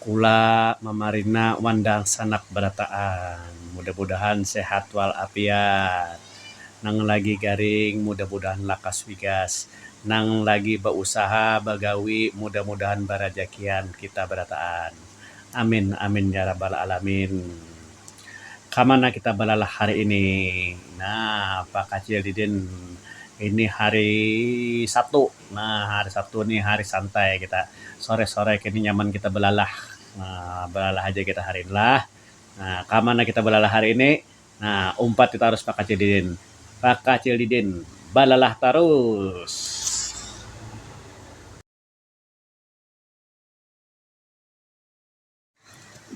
Kula mamarina wan dangsanak barataan mudah mudahan sehat wal afiat nang lagi garing mudah mudahan lakas wigas nang lagi ba usaha bagawi mudah mudahan barajakian kita barataan amin amin ya rabal alamin kamana kita balalah hari ini nah pakacil didin ini hari sabtu. Nah, hari Sabtu nih hari santai kita. Sore-sore kini nyaman kita belalah. Nah, belalah aja kita hari ini lah. Nah, ka mana kita belalah hari ini? Nah, umpat kita harus pakacil didin. Pakacil didin, balalah tarus!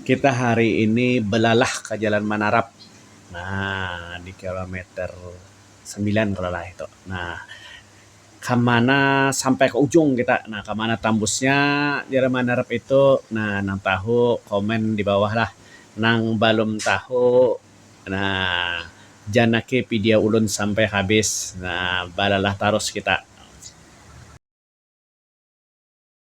Kita hari ini balalah ka Jalan Manarap. Nah, di kilometer sembilan kalau lah itu. Nah, ka mana sampai ka ujung kita. Nah, ka mana tambusnya Jalan Manarap itu. Nah, nang tahu komen di bawah lah. Nang balum tahu, nah janaki pidia ulun sampai habis. Nah, balalah tarus kita.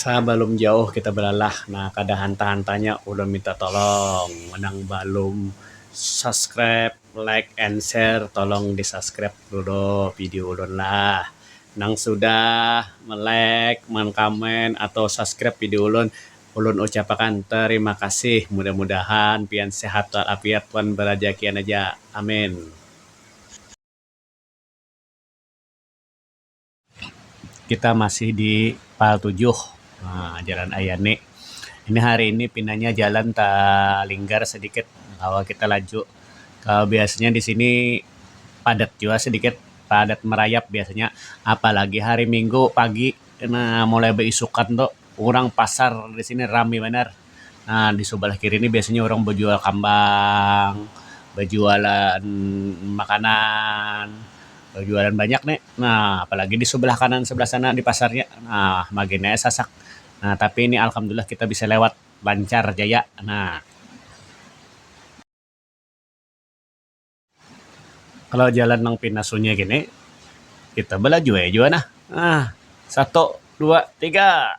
Sabalum jauh kita balalah nah kada hantah hantahnya ulun minta tolong nang balum subscribe, like and share tolong di subscribe dulu video ulun lah. Nang sudah melike, mengkomen atau subscribe video ulun, ulun ucap akan terima kasih. Mudah mudahan pian sehat wal afiat wan barajakian aja. Amin. kita masih di pal tujuh um jalan ayani ini hari ini pinanya jalan talinggar sedikit kawa kita laju kalau biasanya di sini padat jua sedikit padat merayap biasanya apalagi hari minggu pagi kena mulai baisukan tu orang pasar di sini rami banar. Nah di subalah kiri ni biasanya urang bajual kambang, bajualan makanan, bajualan banyak ni. Nah apalagi di subalah kanan subalah sana di pasarnya nah magin ae sasak. Nah tapi ni alhamdulillah kita bisa lewat lancar jaya nah. Kalau jalan nang pina sunyi gini kita balaju ae jua nah. Nah satu dua tiga.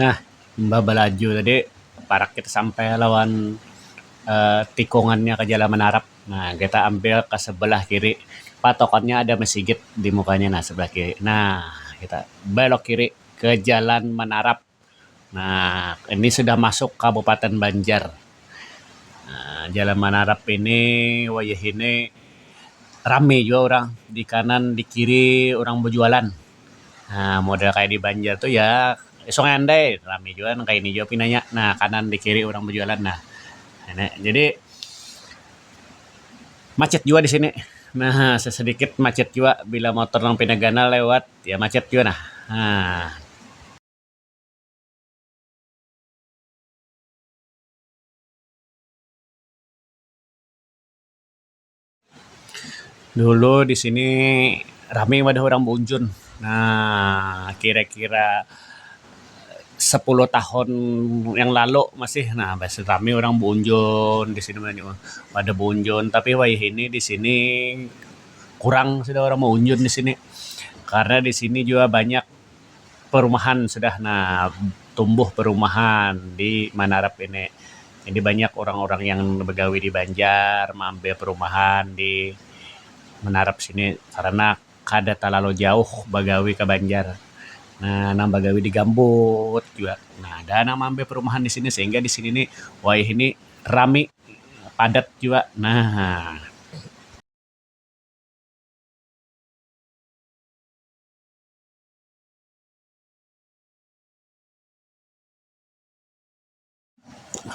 Nah, imbah balaju tadi parak kita sampai lawan um tikungannya ka Jalan Manarap. Nah, kita ambil ka sebelah kiri, patokannya ada masigit di mukanya nah sebelah kiri. Nah, kita belok kiri ke Jalan Manarap. Nah, ini sudah masuk Kabupaten Banjar. Um Jalan Manarap ini wayahini rami jua urang, di kanan, di kiri urang bajualan. Nah, model kaya di Banjar tu ya Sungai Andai rami jua nang kaya ini jua pinanya. Nah, kanan di kiri urang bajualan nah. Ini jadi macit jua di sini. Nah, sasadikit macit jua bila motor nang pina ganal lewat ya macit jua nah. Nah. Dulu di sini rame wadah urang baujun. Nah, kira-kira sepuluh tahun yang lalu masih nah masih rame urang baunjun di sini wadah baunjun. Tapi wayah ini di sini kurang sudah urang baunjun di sini karena di sini juga banyak. perumahan sudah nah tumbuh perumahan di manarap ini jadi banyak orang-orang yang begawi di banjar maambil perumahan di manarap sini karena kada talalu jauh bagawi ka banjar nah nang bagawi di gambut jua nah ada nang maambil perumahan di sini sehingga di sini ni wayah ini rami padat jua nah.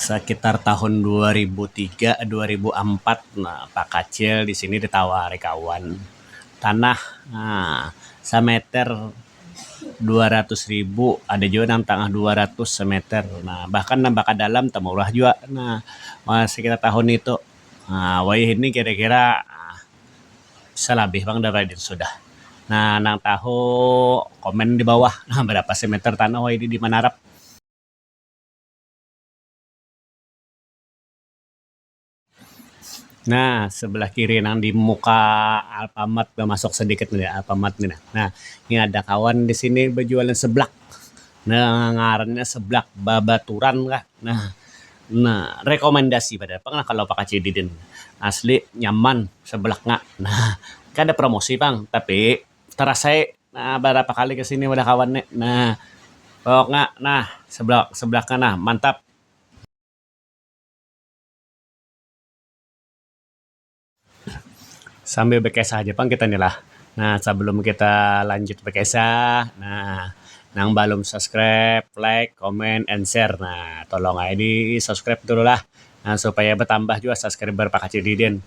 Sakitar tahun dua ribu tiga dua ribu ampat nah bakacil di sini ditawari kawan tanah um sameter dua ratus ribu ada jua nang tangah dua ratus sameter nah bahkan nang baka dalam tamurah jua nah sekitar tahun itu um wayah ini kira-kira um salabih pang dah Raden sudah. Nah nang tahu komen di bawah nah barapa sih meter tanah wayahini di Manarap. Nah sebelah kiri nang di muka Alfamart tu masuk sedikit nang di Alfamart ni nah. Nah ni ada kawan di sini bajualan seblak nang ngarannya seblak babaturan kah nah. Nah rekomendasi banar pang lah kalo bakacil di din asli nyaman sebelak nya nah kada promosi pang tapi terasa ai nah barapa kali kesini wadah kawan nih nah pokoknya nah sebelak sebelak nya nah mantap. Sambil bakisah haja pang kita ni lah. Nah, sabalum kita lanjut bakisah, nah nang balum subscribe, like, comment, and share nah tolong ai di subscribe dulu lah nah supaya batambah jua subscriber Pakcik Didin.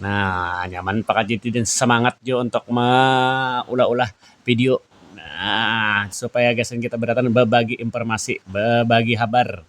Nah, nyaman Pakcik Didin samangat jua untuk maulah-ulah video nah supaya gasan kita badatan babagi informasi, babagi habar.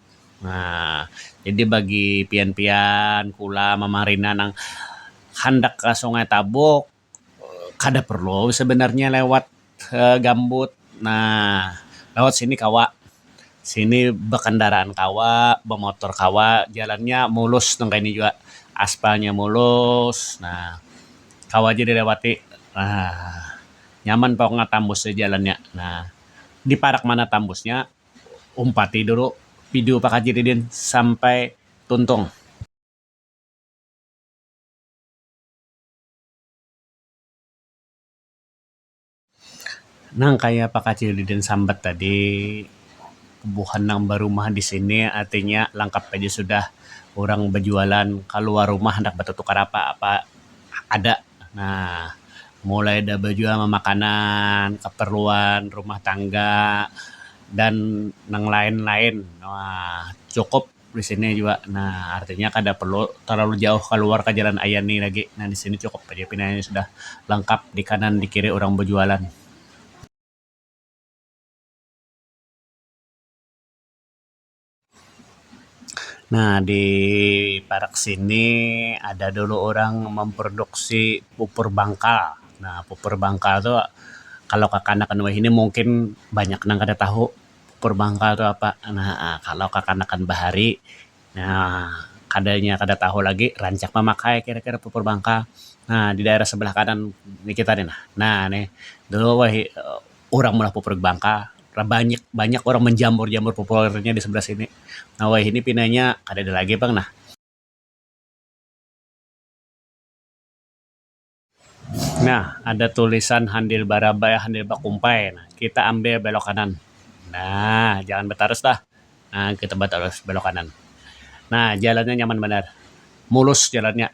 Nah, jadi bagi pian-pian kula mamarina nang handak ka Sungai Tabuk kada perlu sebenarnya lewat gambut. Nah, lewat sini kawa. Sini bakandaraan kawa, bamotor kawa. Jalannya mulus nang kayni jua. Aspalnya mulus. Nah, kawa ja dilewati. Nah, nyaman pokoknya tambusnya jalannya. Nah, di parak mana tambusnya. umpati dulu video pakaji riden sampai tuntung. Nang kaya pakaji riden sambat tadi, buhan nang barumah di sini artinya langkap haja sudah urang bajualan kaluar rumah handak batutukar apa-apa ada. Nah, mulai dari bajual mamakanan, kaparluan rumah tangga dan nang lain-lain nah cukup di sini jua nah artinya kada parlu talalu jauh kaluar ka Jalan Aya ni lagi nah di sini cukup haja pinanya sudah lengkap di kanan di kiri urang bajualan. Nah di parak sini ada dulu orang memproduksi pupur bangkal. Nah pupur bangkal tu kalau kakanakan wahini mungkin banyak nang kada tahu pupur bangkal tu apa. Nah kalau kakanakan bahari nah kada nya kada tahu lagi rancak mamakai kira-kira pupur bangkal. Nah di daerah sebelah kanan ni kita ni nah. Nah nih dulu wahini. urang meulah popor bangka banyak banyak urang menjamur jamur popornya di sebelah sini nah wayahini pinanya kadada lagi pang nah nah ada tulisan handil barabai handil bakumpai nah kita ambil belok kanan nah jangan batarus lah nah kita batarus belok kanan nah jalannya nyaman banar mulus jalannya.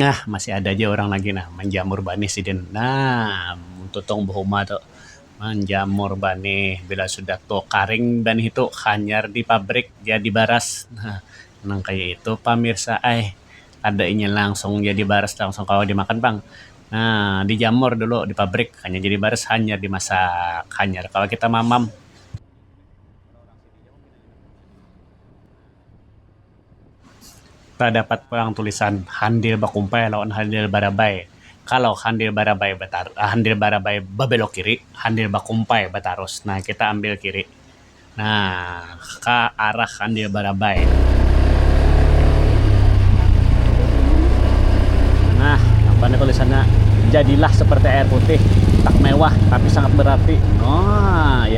Nah masih ada ja urang lagi nah manjamur banih sidin nah muntutong bahuma tu manjamur banih bila sudah tu karing banih tu hanyar di pabrik jadi baras nah nang kaya itu pamirsa ai kada inya langsung jadi baras langsung kawa dimakan pang nah dijamur dulu di pabrik hanyar jadi baras hanyar dimasak hanyar kawa kita mamam. Tadapat pulang tulisan handil bakumpai lawan handil barabai. Kalau handil barabai batarus handil barabai babelok kiri, handil bakumpai batarus. Nah, kita ambil kiri. Nah, ka arah handil barabai. Nah, apa nih tulisannya? Jadilah seperti air putih, tak mewah tapi sangat berarti. Nah, ya.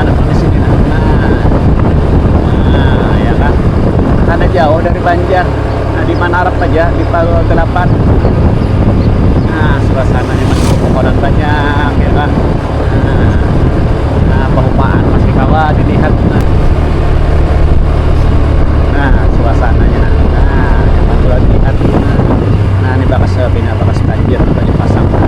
Ada polisi di Nah, ya kan? Kada jauh dari Banjar. Nah, di mana arap aja di Palua Gelapan. Nah, suasananya masih pepohonan banyak, ya kan? Nah, nah pehumaan masih kawa dilihat. Nah, nah suasananya. Nah, nah nyaman jua dilihat. Nah, nah ini bakas eh, bina bakas banjir banyu pasang. Nah,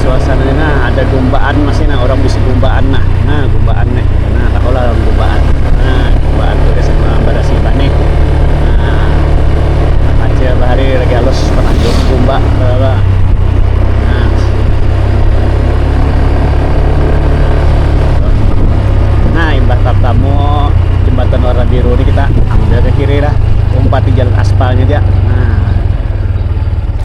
suasana ini nah ada gumbaan masih nah orang bisa gumbaan nah nah gumbaan nih nah tak olah orang gumbaan nah gumbaan tuh di sana pada si bani nah aja bahari lagi halus pernah gumba nah nah imbah tamu jembatan warna biru ini kita ambil ke kiri lah umpat di jalan aspalnya dia nah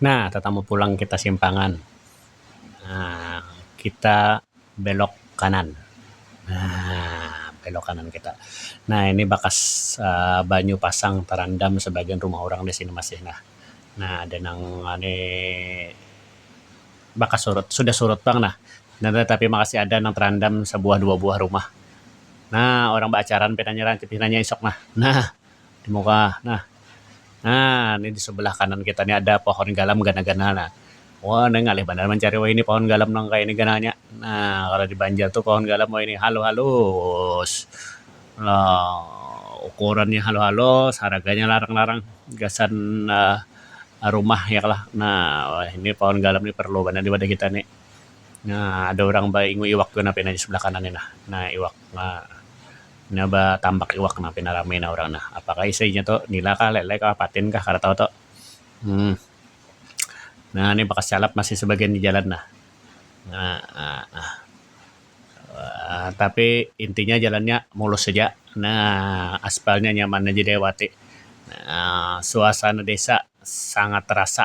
Nah, tatamu pulang kita simpangan. Nah, kita belok kanan. Nah, belok kanan kita. Nah, ini bakas Um banyu pasang tarandam sabagian rumah urang di sini masih nah. Nah, ada nang ni bakas surut, sudah surut pang nah. Nah, tatapi masih ada nang tarandam sabuah dua buah rumah. Nah, urang baacaran pinanya rancak pinanya isuk nah. Nah. di muka nah nah ni di sebelah kanan kita ni ada pohon galam ganal-ganal nah wah nih ngalih banar mancari wahini pohon galam nang kaya ni ganalnya nah kalau di banjar tu pohon galam wahini halus-halus lah ukurannya halus-halus haraganya larang-larang gasan um rumah ya kalo nah wahini pohon galam ni perlu banar di wadah kita ni nah ada urang baingui iwak tu nah pina di sebelah kanan ni nah iwak um. Pina batambak iwak nah pina rami nah urang nah apakah isi nya tu nila kah lele kah patin kah kada tahu tu um nah ni bakas calap masih sebagian dijalan nah tapi inti nya jalan nya mulus haja nah aspal nya nyaman haja diawati nah suasana desa sangat terasa.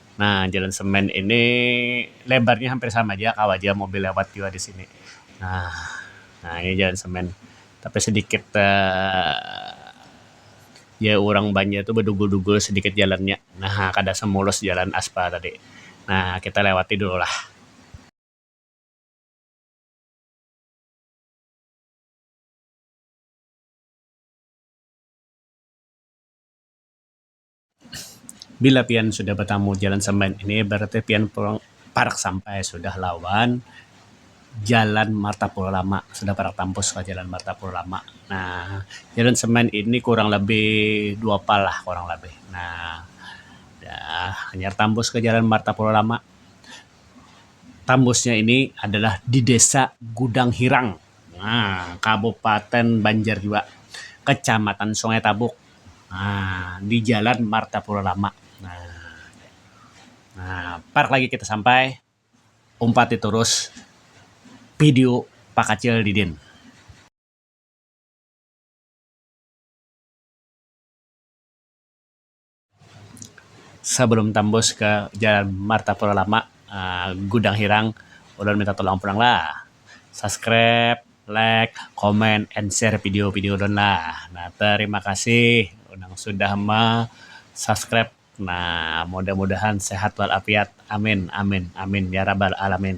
Nah, jalan semen ini lebarnya hampir sama ja, kawa ja mobil lewat jua di sini. Nah, nah ini jalan semen. Tapi sedikit ya urang Banjar tu bedugul-dugul sedikit jalannya. Nah, kada semulus jalan aspal tadi. Nah, kita lewati dulu lah. bila pian sudah batamu jalan sambayan ini berarti pian pulang parak sampai sudah lawan jalan martapura lama, sudah parak tampus ka jalan martapura lama. Nah, jalan sambayan ini kurang labih dua pa lah kurang labih. Nah, dah hanyar tampus ka jalan martapura lama, tampusnya ini adalah di desa Gudang Hirang, nah Kabupaten Banjar jua, Kecamatan Sungai Tabuk. um di jalan Martapura Lama um parak lagi kita sampai umpati terus video pakacil didin. Sebelum tambus ke jalan Martapura Lama um Gudang Hirang ulun minta tolong pulang lah subscribe. Like, comment, and share video-video ulun lah. Nah, terima kasih nang sudah ma subscribe. Nah, mudah-mudahan sehat wal afiat. Amin amin amin ya rabal alamin.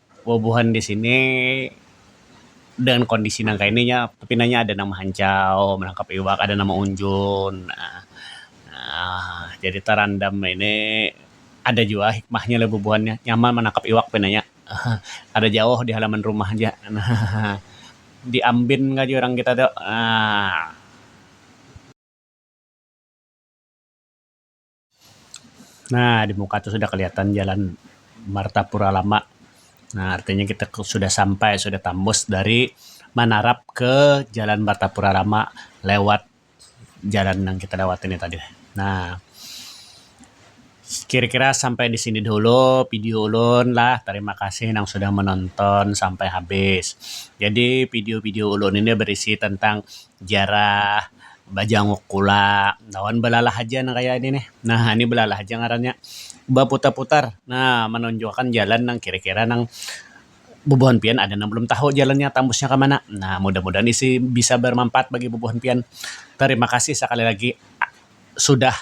Bubuhan di sini dengan kondisi nang kaya ini nya pinanya ada nang mahancau manangkap iwak, ada nang maunjun aaa jadi tarandam ini ada jua hikmahnya lah bubuhan nya nyaman manangkap iwak pinanya ahaa kada jauh di halaman rumah ja ahaa di ambin ka jurang kita tu aaa. Nah di muka tu sudah kelihatan jalan Martapura Lama nah artinya kita sudah sampai sudah tambus dari Manarap ke jalan Martapura Lama lewat jalan yang kita lewati ni tadi nah kira-kira sampai di sini dahulu video ulun lah tarima kasih nang sudah menonton sampai habis jadi video-video ulun ini berisi tentang ziarah. Bajanguk kula lawan balalah haja nang kaya ini nih. Nah, ini balalah haja ngarannya. Baputar-putar. Nah, manunjukakan jalan nang kira-kira nang bubuhan pian ada nang balum tahu jalannya tambusnya ka mana. Nah, mudah-mudahan isi bisa barmanpaat bagi bubuhan pian. Tarima kasih sakali lagi sudah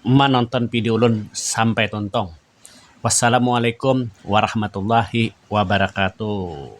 manonton video ulun sampai tuntung. Wassalamualaikum warahmatullahi wabarakatuh.